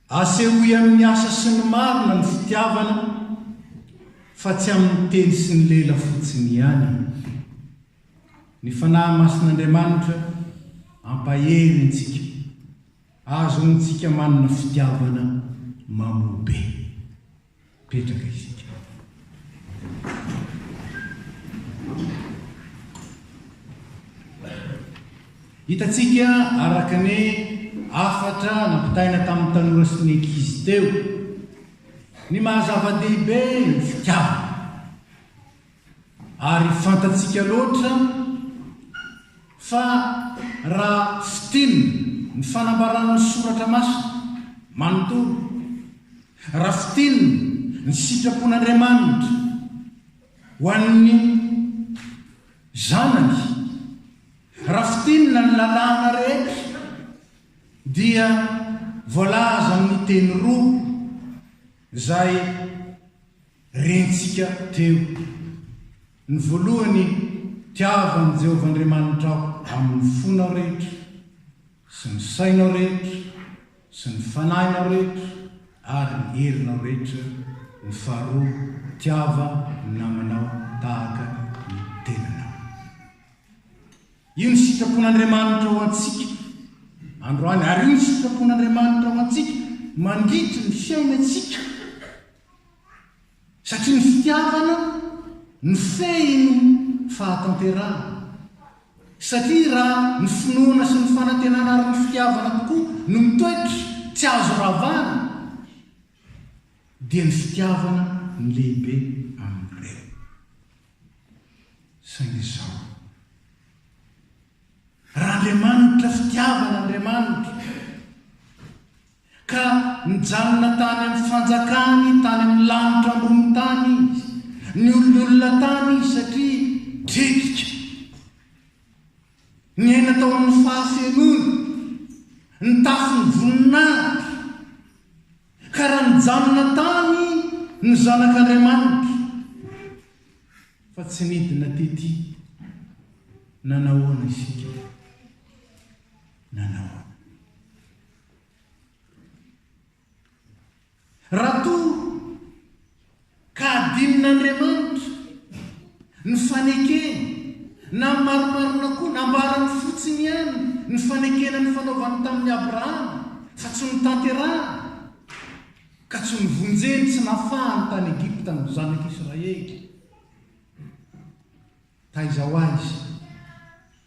Asehoy amin'ny asa sy ny marina ny fitiavana fa tsy amin'ny teny sy ny lela fotsiny ihany e! Ny Fanahy Masin'Andriamanitra ampahery antsika ahazoantsika manana fitiavana mamoa be. Mipetraka isika. Hitantsika araka ny hafatra nampitaina tamin'ny tanora sy ny ankizy teo ny maha zava-dehibe ny fitiavana. Ary fantatsika loatra fa raha fiteny ny fanambaran'ny Soratra Masina manontolo, raha fiteny ny sitrapon'Andriamanitra ho an'ny Zanany, raha fiteny na ny Lalàna rehetra dia voalaza amin'ny teny roa izay rentsika teo. Ny voalohany, tiavo an'i Jehovah Andriamanitrao amin'ny fonao rehetra, sy ny sainao rehetra, sy ny fanahinao rehetra, ary ny herinao rehetra. Ny faharoa, tiava ny namanao tahaka ny tenanao. Io ny sitrapon'Andriamanitra ho antsika androany, ary io ny sitrapon'Andriamanitra ho antsika mandritra ny fiainantsika. satria ny fitiavana no fehin'ny fahatanterahana, satria raha ny finoana sy ny fanantenana ary ny fitiavana tokoa no mitoetra tsy azo ravana dia ny fitiavana no lehibe amin'ireo. Saingy izao, raha Andriamanitra fitiavana Andriamanitra, Ka nijanona tany amin'ny fanjakany tany amin'ny lanitra ambony tany izy, niololona tany izy satria dredika. Niaina tao amin'ny fahafenoany, nitafy ny voninahitra. Ka raha nijanona tany ny zanak'Andriamanitra, fa tsy nidina tetỳ, nanahoana isika? Nanahoana? Raha toa ka adinon'Andriamanitra ny fanekeny na marimarina koa nambarany fotsiny ihany ny fanekena nifanaovany tamin'i Abrahama fa tsy notanterahany ka tsy novonjeny tsy nafahany tany Egypta ny zanak'Israely. Taiza ho aiza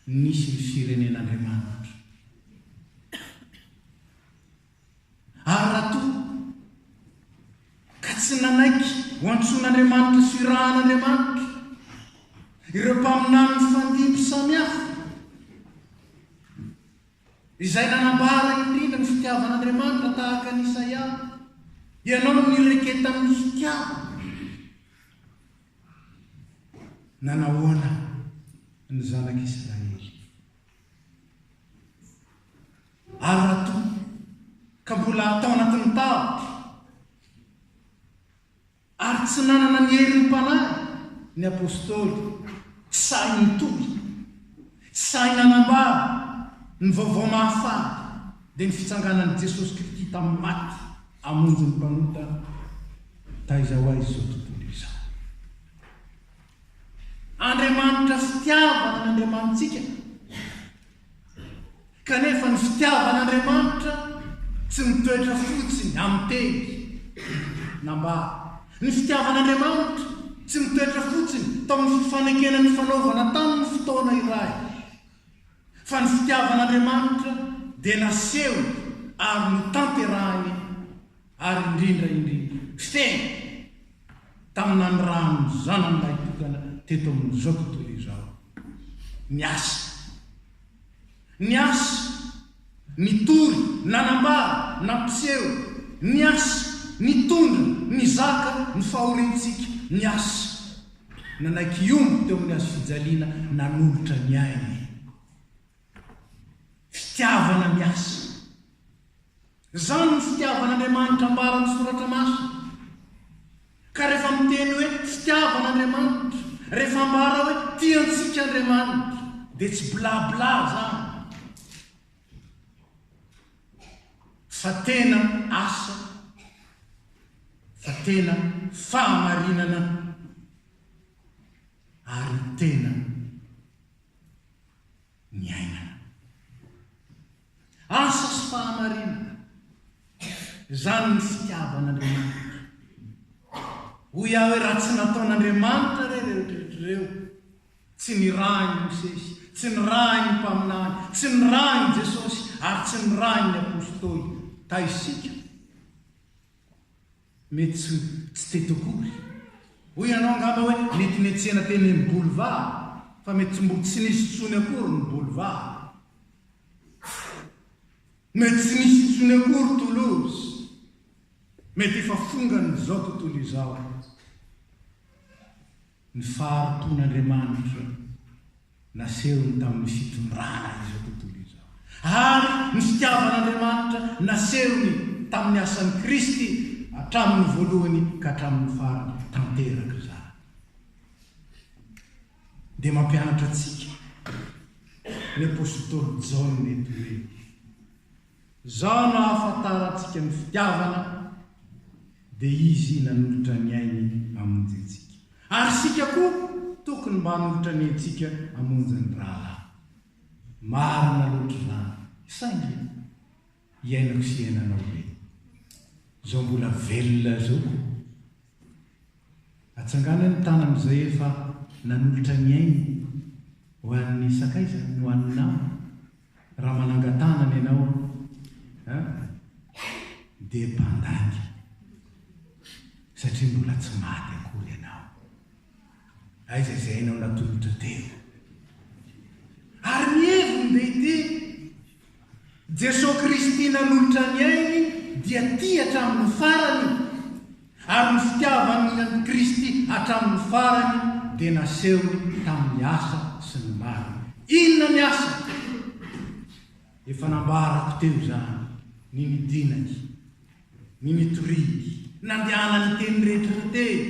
no nisy ny firenen'Andriamanitra? Ary raha toa ka tsy nanaiky ho antsoin'Andriamanitra sy ho irahan'Andriamanitra ireo mpaminany nifandimby samihafa, izay nanambara indrindra ny fitiavan'Andriamanitra tahaka an'i Isaia, ianao no nireketany ny fitiavany. Nanahoana ny Zanak'i Israely? Ary raha toa ka mbola tao anatin'ny tavy ary tsy nanana ny herin'ny Mpanahy ny Apôstôly, tsy sahy nitory, tsy sahy nanambara ny vaovao mahafaly, dia ny fitsanganan'i Jesosy Kristy tamin'ny maty hamonjy ny mpanota, Taiza ho aiza izao tontolo izao? Andriamanitra fitiavana ny Andriamanitsika, kanefa ny fitiavan'Andriamanitra tsy mitoetra fotsiny amin'ny teny na mba ny fitiavan'Andriamanitra tsy mitoetra fotsiny tao amin'ny fifanekena nifanaovana tamin'ny fotoana iray, fa ny fitiavan'Andriamanitra dia nasehony ary notanterahiny ary indrindra indrindra fiteny taminà ny ràn'ny zanany lahitokana teto amin'izao tontolo izao. Niasa. Niasa. Nitory, nanambara, nampiseho, niasa, nitondra, nizaka ny fahoriantsika, niasa. Nanaiky hiomby teo amin'ny hazofijaliana nanolotra ny ainy. Fitiavana miasa. Izany no fitiavan'Andriamanitra ambara amin'ny Soratra Masina. Ka rehefa miteny hoe fitiavana Andriamanitra, rehefa ambara hoe tia antsika Andriamanitra, dia tsy bla bla izany, fa tena asa, fa tena fahamarinana, ary tena. niainana. Asa sy fahamarinana izany ny fitiavan'Andriamanitra. Hoy aho hoe raha tsy nataon'Andriamanitra re ireo rehetra ireo, tsy nirahin'i Mosesy, tsy nirahin'ny mpaminany, tsy nirahin'i Jesosy ary tsy nirahin'ny apostoly, ta isika Mety tsy tsy tety akory. Hoy ianao angamba hoe mety netsena teny amin'ny boulevard fa mety mbo tsy nisy tsony akory ny boulevard. Mety tsy nisy tsony akory Toulouse. Mety efa fongan'izao tontolo izao. Ny fahariton'Andriamanitra nasehony tamin'ny fitondrana izao tontolo izao, ary ny fitiavan'Andriamanitra nasehony tamin'ny asan'i Kristy hatramin'ny voalohany ka hatramin'ny farany tanterak'izany, dia mampianatra antsika ny apositoly Jaona eto hoe. Zao no ahafantarantsika ny fitiavana, dia Izy nanolotra ny ainy hamonjy antsika. Ary isika koa tokony mba hanolotra ny aintsika hamonjy ny rahalahy. Marina loatra izany, saingy iainako sy iainanao ve izao mbola velona izao? Atsangano ny tanana izay efa nanolotra ny ainy ho an'ny sakaizany, ho an'ny namany, Raha manangan-tanana ianao an, dia mpandainga, satria mbola tsy maty akory ianao. Aiza izay ianao natolotra tena? Ary ny heviny dia ity, Jesoa Kristy nanolotra ny ainy dia tia hatramin'ny farany. Ary ny fitiavany an'i Kristy hatramin'ny farany dia nasehony tamin'ny asa sy ny marina. Inona ny asany? Efa nambarako teo izany ny nidinany, ny nitoriany, nandehanany teny rehetra teny,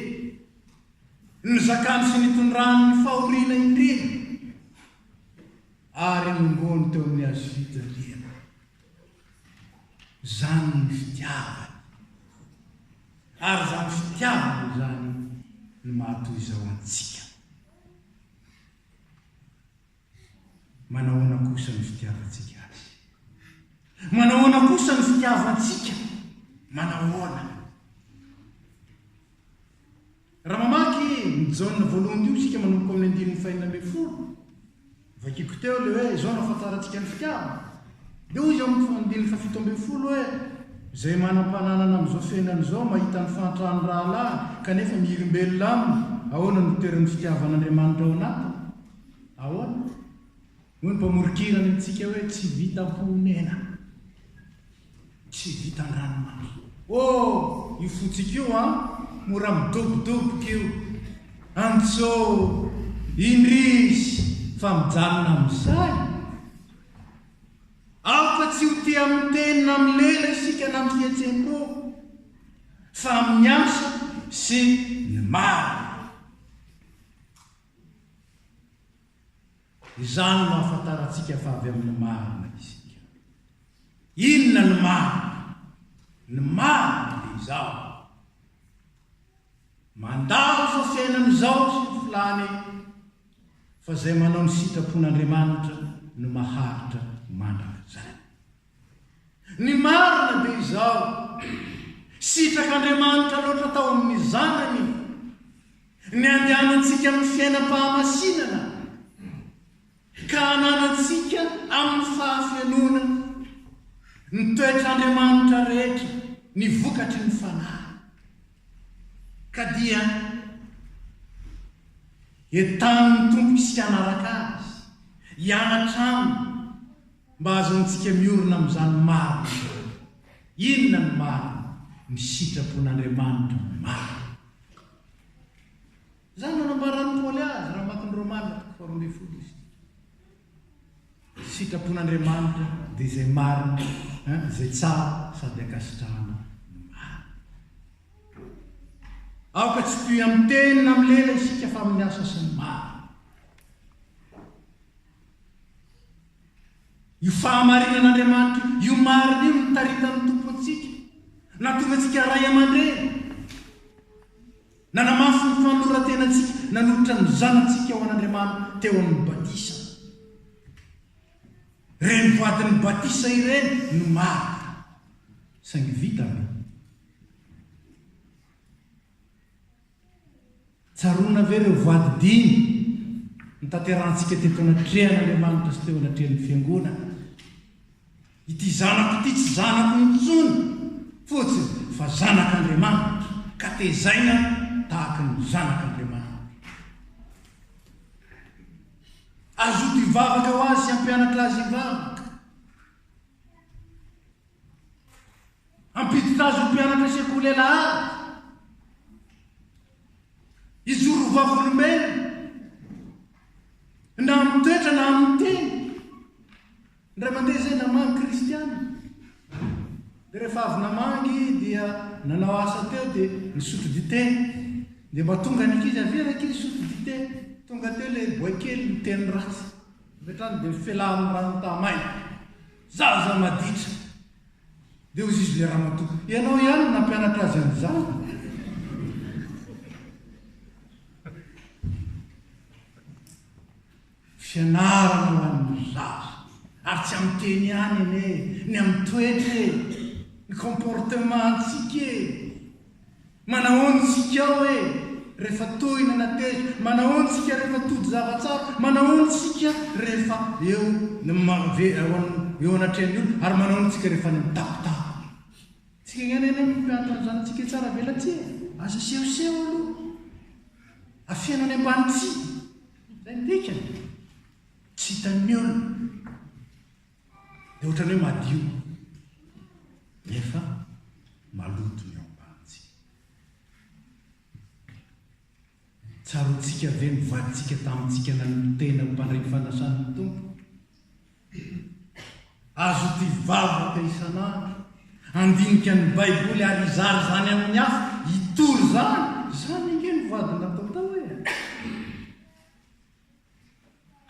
ny nizakany sy nitondrany ny fahoriana indrindra, ary ny nirony teo amin'ny hazofijaliana. Izany ny fitiavany. Ary izany fitiavana izany no mahatoy izao antsika. Manahoana kosa ny fitiavantsika Azy? Manahoana kosa ny fitiavantsika? Manahoana? Raha mamaky ny Jaona voalohan'io isika manomboka amin'ny andininy fahenina ambin'ny folo, vakiko teo ilay hoe izao no ahafantarantsika ny fitiavana. Dia hoy izy ao amin'ny andininy fahafito ambin'ny folo hoe, Izay manam-pananana amin'izao fiainana izao mahita ny fahantran'ny rahalahy kanefa miherimbelona aminy, ahoana no toeran'ny fitiavan'Andriamanitra ao anatiny? Ahoana? Hoy ny mpamoron-kira any amintsika hoe tsy vitan poonena, tsy vitan ranomamy. Oh! io fotsiko io an! mora midobodoboka io! Antsô! indrisy! fa mijanona amin'izay! Aoka tsy ho tia miteny na milela isika na mihetsem-po, fa amin'ny asa sy ny marina. Izany no ahafantarantsika fa avy amin'ny marina isika. Inona ny marina? Ny marina dia izao, mandalo izao fiainana izao sy ny filany fa izay manao ny sitrapon'Andriamanitra no maharitra mandrakizay. Ny marina dia izao, sitrak'Andriamanitra loatra tao amin'ny Zanany ny andehanantsika amin'ny fiainam-pahamasinana ka hananantsika amin'ny fahafenoana ny toetr'Andriamanitra rehetra, ny vokatry ny Fanahy. Ka dia entanin'ny Tompo isika hanaraka Azy, hianatra Aminy, Mba ahazoantsika miorina amin'izany marina izany. Inona no marina? Ny sitrapon'Andriamanitra no marina. Izany no nambaran'i Paoly azy raha mamaky ny Romana faharoa ambin'ny folo isika. Ny sitrapon'Andriamanitra dia izay marina, izay tsara sady ankasitrahana no marina. Aoka tsy hitohy amin'ny teny na amin'ny lela isika fa amin'ny asa sy ny marina. Io fahamarinan'Andriamanitra io marina io nitaritan'ny Tompo antsika, nahatonga antsika ray aman-dreny, nanamafy ny fanoloran-tenantsika nanolotra ny zanatsika ho an'Andriamanitra teo amin'ny batisa. Ireny vadin'ny batisa ireny no marina. Saingy vita ve? Tsaroana ve ireo voady dimy notanterahantsika teto anatrehan'Andriamanitra sy teo anatrehan'ny Fiangonana? Ity zanako ity tsy zanako intsony fotsiny fa zanak'Andriamanitra, ka tezaina tahaka ny zanak'Andriamanitra. Azoto hivavaka ho azy sy hampianatra azy hivavaka. Hampiditra azy ho mpianatra sekoly Alahady. Hijoro ho vavolombelona, na amin'ny toetra na amin'ny teny. Ny ray aman-dreny izay namangy kristiana. Dia rehefa avy namangy dia nanao asa teo dia nisotro dite. Dia mba tonga ny ankizy, avia ny ankizy sotro dite. Tonga teo ilay boay kely miteny ratsy. Avy hatrany dia mifelan'ny rano taha-maina. Zaza maditra. Dia hoy izy le ramatoa, ianao ihany no nampianatra azy an'izany? Fianarana ho an'ny zaza. Ary tsy amin'ny teny ihany anie e, ny amin'ny toetra e, ny comportement-ntsika e. Manahoana isika hoe rehefa tohina na tezitra? Manahoana isika rehefa tody zava-tsara? Manahoana isika rehefa eo eo anatrehan'ny olona? Ary manahoana isika rehefa any amin'ny tampon-tany? Tsika ihany anie no mpianatra ny zanatsika etsy ara-belatsihy e! Aza sehoseho aloha. Afeno any ambany tsihy. Izay no dikany. Tsy hitan'ny olona. Dia ohatran'ny hoe madio, nefa maloto ny ao am-bantsika. Tsaroantsika ve ny vadintsika tamintsika nanompo tena ho mpandray fanasan'ny Tompo? Azo ity vavaka isan'andro, andinika ny Baiboly ary izara izany amin'ny hafa, hitory izany. Izany ange no vady natao tao e!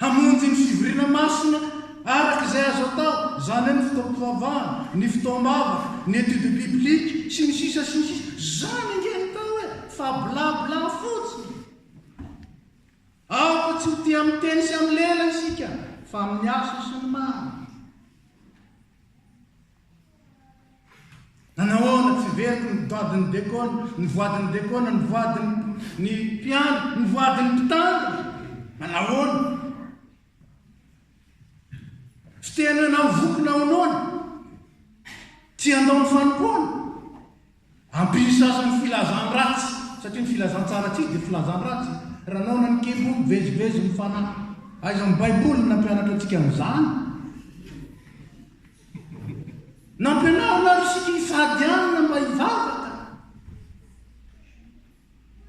Hamonjy ny fivoriana masina araka izay azo atao, izany hoe ny fotoam-pivavahana, ny fotoam-bavaka, ny étude biblique, sy ny sisa sy ny sisa. Izany ange ny tao e! Fa bla bla fotsiny! Aoka tsy ho tia miteny sy amin'ny lela isika, fa amin'ny asa sy ny maro. Nanao ahoana? Tsy velona ny vadin'i Dekona, ny vadin'i Dekona, ny vadin'ny mpiandry, ny vadin'ny mpitandro. Nanao ahoana? Fiteny hoe nahavoky nahonoana. Tsy handao ny fanompoana. Ampy sasa ny filazan-dratsy, satria ny filazan-tsara tsy izy dia filazan-dratsy. Raha naona ny kibo, mivezivezy ny fanahy. Aiza amin'ny Baiboly ny nampianatra antsika an'izany? Nampianarina ary isika hifady hanina mba hivavaka.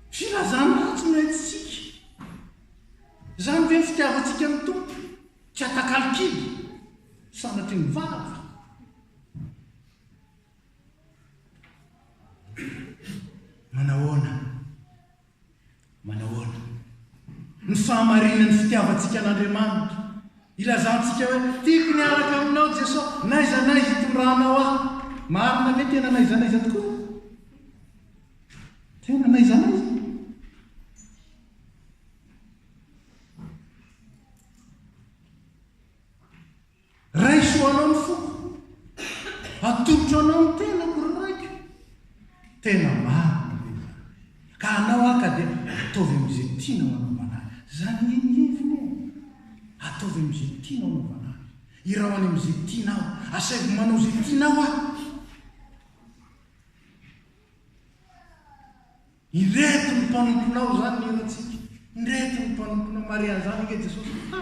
Filazan-dratsy no entintsika. Izany ve ny fitiavantsika ny Tompo? Tsy atakalo kibo, sanatria mivavaka. Manahoana? Manahoana? Ny fahamarinan'ny fitiavantsika an'Andriamanitra. Ilazantsika hoe, Tiako ny hiaraka aminao Jesoa, n'aiza n'aiza itondranao ahy. Marina ve tena n'aiza n'aiza tokoa? Tena n'aiza n'aiza? Raiso anao ny foko, atolotro anao ny tenako ry raiko, tena maro ny levona, ka anao aho ka dia ataovy amin'izay tianao anaovana ahy, izany anie ny levona e! ataovy amin'izay tianao anaovana ahy, iraho any amin'izay tianao, asaivo manao izay tianao aho. Ireto ny mpanomponao zany ny hiratsika ireto ny mpanomponao Maria zany ange Jesosy ha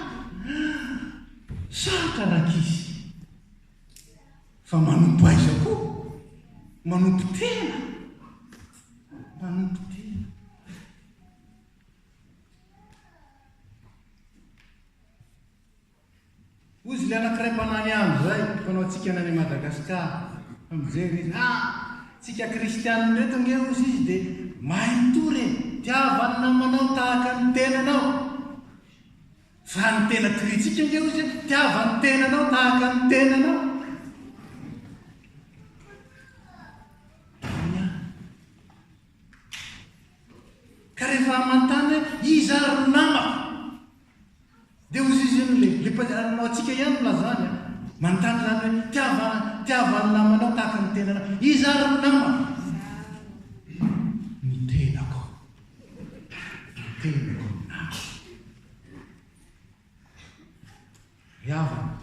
sarotra rankizy fa manompo aiza koa manompo tena manompo tena Ozy le anakiray mpanany andro zay mpanao tsikana any Madagascar fa mijery izy ha tsika kristianina reto ange ozy izy de mahay mitory e tiavany namanao tahaka ny tenanao fa ny tena tritsika ange ozy e tiavany tenanao tahaka ny tenanao ka rehefa amantany iza ry namako Dia hozy izy iny le le mpandehana manao antsika ihany no lazany a! Manontany izany hoe tiava tiava ny namanao tahaka ny tenanao. Iza ary no nama? Ny tenako. Ny tenako ny nama. Ry havana,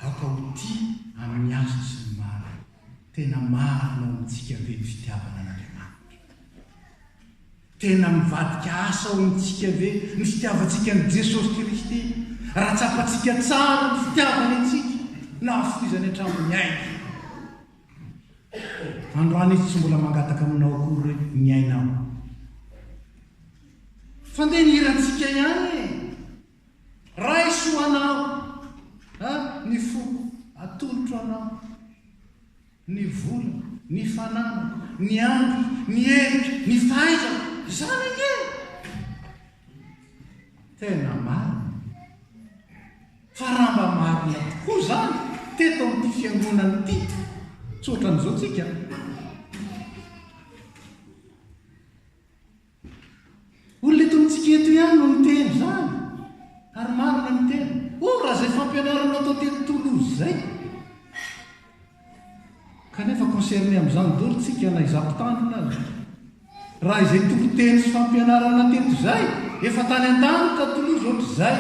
Aoka ho tia amin'ny antso sy ny maro. Tena marina ao amintsika ve ny fitiavana an'Andriamanitra? Tena mivadika asa ao amintsika ve ny fitiavantsika an'i Jesosy Kristy? Raha tsapantsika tsara ny fitiavany antsika, nahafoizany hatramin'ny ainy. Androany Izy tsy mbola mangataka aminao akory hoe miaina aho. Fandeha ny hirantsika ihany e! Raiso anao a ny foko, atolotro anao ny vola, ny fananako, ny andro, ny heriko, ny fahaizako, izany anie e! Tena marina. Fa raha mba marina tokoa izany teto amin'ity fiangonana ity, tsy ohatran'izao tsika. Olona eto amintsika eto ihany no miteny izany ary marina ny tena. Oh, raha izay fampianaranao tao teny Toulouse izay! Kanefa concerné amin'izany daholo tsika na izaho mpitandrina aza. Raha izay toriteny sy fampianarana teto izay, efa tany an-tany tao Toulouse ohatr'izay.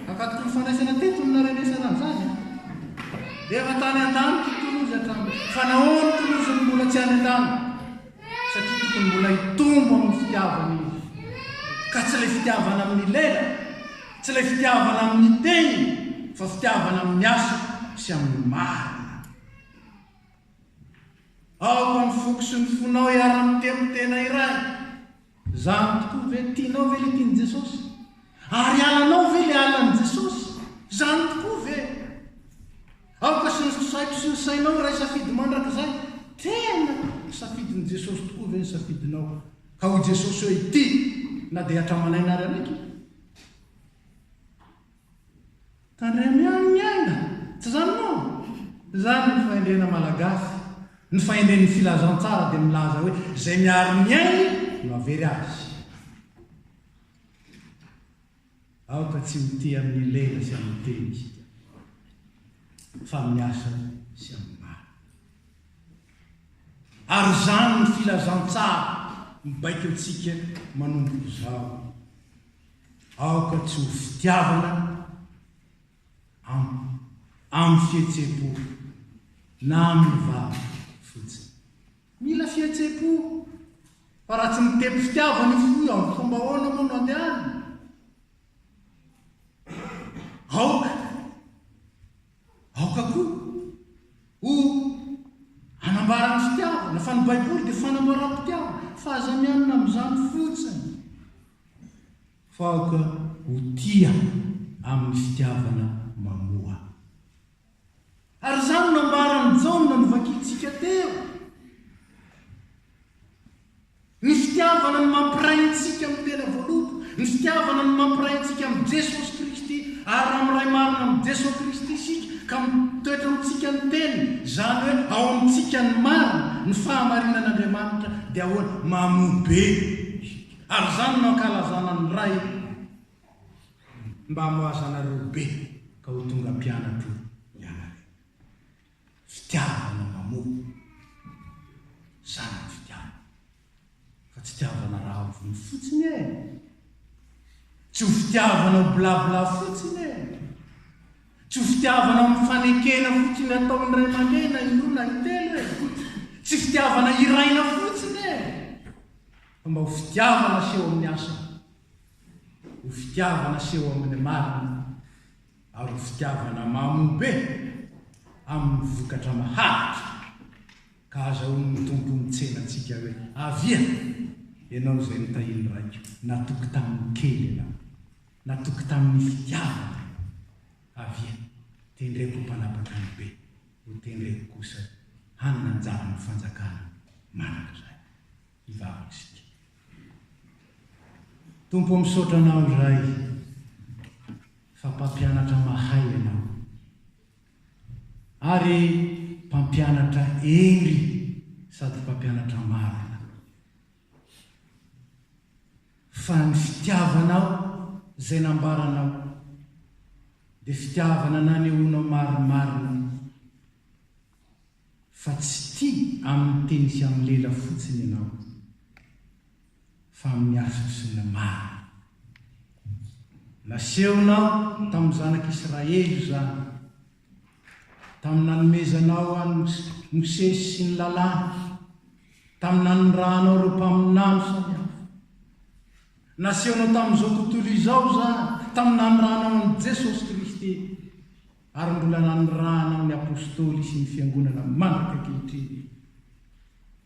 Akatoky ny fandraisana teto no narenesana an'izany. Efa tany an-tany Toulouse hatramin'izay. Fa nahoana Toulouse no mbola tsy any an-tany? satria tokony mbola hitombo amin'ny fitiavany izy, ka tsy ilay fitiavana amin'ny lela, tsy ilay fitiavana amin'ny teny, fa fitiavana amin'ny asa sy amin'ny marina. Aoka ny foko sy ny fonao hiara-miteny tena iray. Za amiko tokoa ve? Tianao ve le tian'i Jesosy? Ary alanao ve le alan'i Jesosy? Za amiko tokoa ve? Aoka sendriko saiko sy ny sainao iray safidy mandrakizay, tena ny safidin'i Jesosy tokoa ve ny safidinao? Ka hoy Jesosy hoe ity na dia hatraman'aina ary anaiky. Tandremo ihany ny aina! Tsy izany moa? Izany ny fahendrena malagasy. Ny fahendren'ny filazantsara dia milaza hoe izay miaro ny ainy no havery azy. Aoka tsy ho tia amin'ny lela sy amin'ny teny isika, fa amin'ny asa sy amin'ny maro. Ary izany ny filazantsara mibaiko antsika manomboka izao. Aoka tsy ho fitiavana amiko amin'ny fihetsem-po na amin'ny vava fotsiny. Mila fihetsem-po fa raha tsy mitety fitiavana io fo io amin'ny fomba ahoana moa no handehanany? Aoka, aoka koa ho hanambara ny fitiavana fa ny Baiboly dia fanambaram-pitiavana fa aza mianina amin'izany fotsiny. Fa aoka ho tia amin'ny fitiavana mamoa. Ary izany nambaran'i Jaona novakintsika teo. Ny fitiavana no mampiray antsika amin'ny tena voaloboka. Ny fitiavana no mampiray antsika amin'i Jesosy Kristy. Ary raha miray marina amin'i Jesosy Kristy isika ka mitoetra amintsika ny Teniny, izany hoe ao amintsika ny marina, ny fahamarinan'Andriamanitra, dia ahoana? Mamoa be isika. Ary izany no ankalazana ny Ray mba hamoaza anareo be ka ho tonga mpianatro ianareo. Fitiavana mamoa. Izany ny fitiavana. Fa tsy tiavana rahavony fotsiny e. Tsy ho fitiavana ho bla bla fotsiny e. Tsy ho fitiavana amin'ny fanekena fotsiny ataon'ny ray aman-dreny na indroa na intelo e. Tsy fitiavana hiraina fotsiny e. Mba ho fitiavana seho amin'ny asa, ho fitiavana seho amin'ny marina, ary ho fitiavana mamo be amin'ny vokatra maharitra. Ka hazahoan'ny Tompo mitsena antsika hoe, Avia, ianao izay notahin'ny Raiko. Natoky tamin'ny kely ianao. Natoky tamin'ny fitiavana ianao. Avia, tendreko ho mpanapaka ny be, hotendreko kosa hanana anjara amin'ny fanjakana mandrakizay. hivavaka isika. Tompo o misaotra anao Ray fa mpampianatra mahay ianao ary mpampianatra hery sady mpampianatra marina fa ny fitiavanao izay nambaranao dia fitiavana nanehoanao marimarina Fa tsy tia amin'ny teny sy amin'ny lela fotsiny ianao, fa amin'ny asa sy ny maro. Nasehonao tamin'ny zanak'i Israely izany, tamin'ny nanomezanao an'i Mosesy sy ny Lalàny, tamin'ny nanirahanao ireo mpaminany samihafa. Nasehonao tamin'izao tontolo izao izany, tamin'ny nanirahanao an'i Jesosy Kristy. ary mbola nanirahana ny Apôstôly sy ny Fiangonana mandraka ankehitriny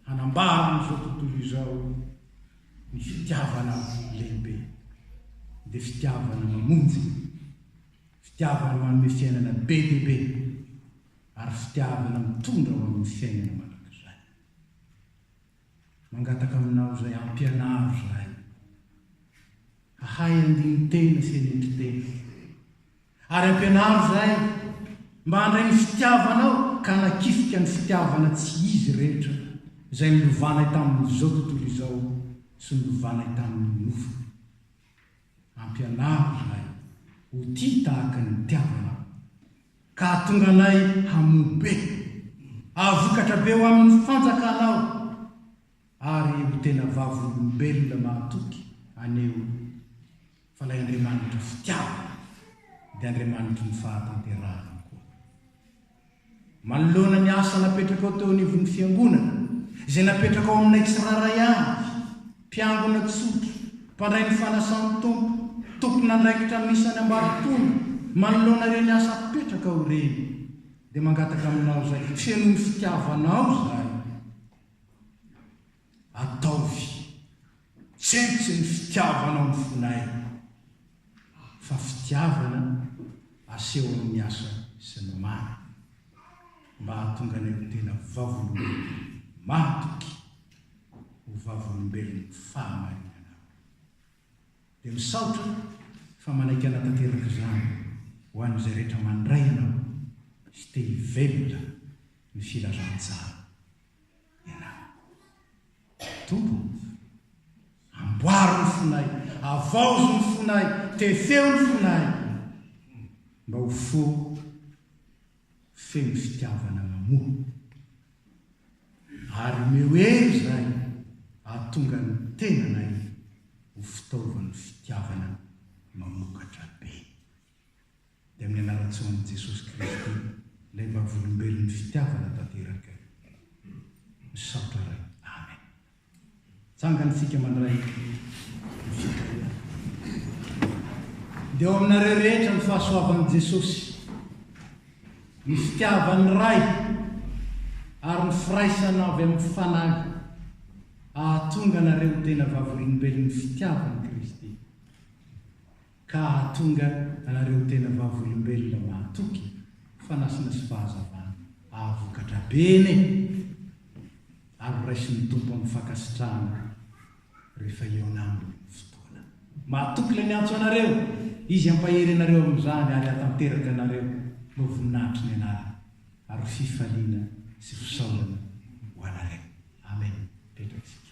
hanambara amin'izao tontolo izao ny fitiavana lehibe, dia fitiavana mamonjy, fitiavana manome fiainana be dia be, ary fitiavana mitondra ho amin'ny fiainana mandrakizay. Mangataka aminao izay hampianaro izahay hahay andinin-tena sy henetin-tena, Ary ampianaro izay mba handray ny fitiavanao ka hanakifika ny fitiavana tsy izy rehetra izay nilovanay tamin'izao tontolo izao sy nilovanay tamin'ny nofony. Ampianaro izahay ho tia tahaka ny nitiavanao ka hahatonga anay hamoa be, hahavokatra be ho amin'ny fanjakanao ary ho tena vavolombelona mahatoky aneo. Fa ilay Andriamanitry ny fitiavana dia Andriamanitry ny fahatanterahana koa. Manoloana ny asa napetrakao teo anivon'ny Fiangonana, izay napetrakao aminay tsirairay avy, mpiangona tsotra, mpandray ny fanasan'ny Tompo, tompon'andraikitra amin'ny isan'ny ambaratonga, manoloana ireny asa apetrakao ireny, dia mangataka aminao izay, feno ny fitiavanao izahay. Ataovy tsentsy ny fitiavanao ny fonay, fa fitiavana aseho amin'ny asa sy ny mari, mba hahatonga anay ho tena vavolombelona mahatoky, ho vavolombelon'ny fahamarinana. Dia misaotra fa manaiky hanatanteraka izany ho an'izay rehetra mandray anao sy te hivelona ny filazantsara Tompoko, amboaro ny fonay, avaozo ny fonay, tefeo ny fonay, mba ho fo feno fitiavana mamoa. Ary omeo hery izay hahatonga ny tenanay ho fitaovan'ny fitiavana mamokatra be. dia amin'ny anaran-tsoan'i Jesosy Kristy, ilay vavolombelon'ny fitiavana tanteraka. Misaotra Ray. Amen. Tsangany tsika mandray ny fitiavana. Dia ao aminareo rehetra ny fahasoavan'i Jesosy, ny fitiavan'ny Ray, ary ny firaisana avy amin'ny Fanahy ahatonga anareo tena vavolombelon'ny fitiavan'i Kristy. ka hahatonga anareo tena vavolombelona mahatoky fanasana sy fahazavana hahavokatra bene ary ho raisin'ny Tompo amin'ny fankasitrahana rehefa eo naminy ny fotoana. Mahatoky ilay miantso anareo, Izy hampahery anareo amin'izany ary hahatanteraka anareo ho voninahitry ny anarany ary ho fifaliana sy fisaorana ho anareo. Amen. Petra isika.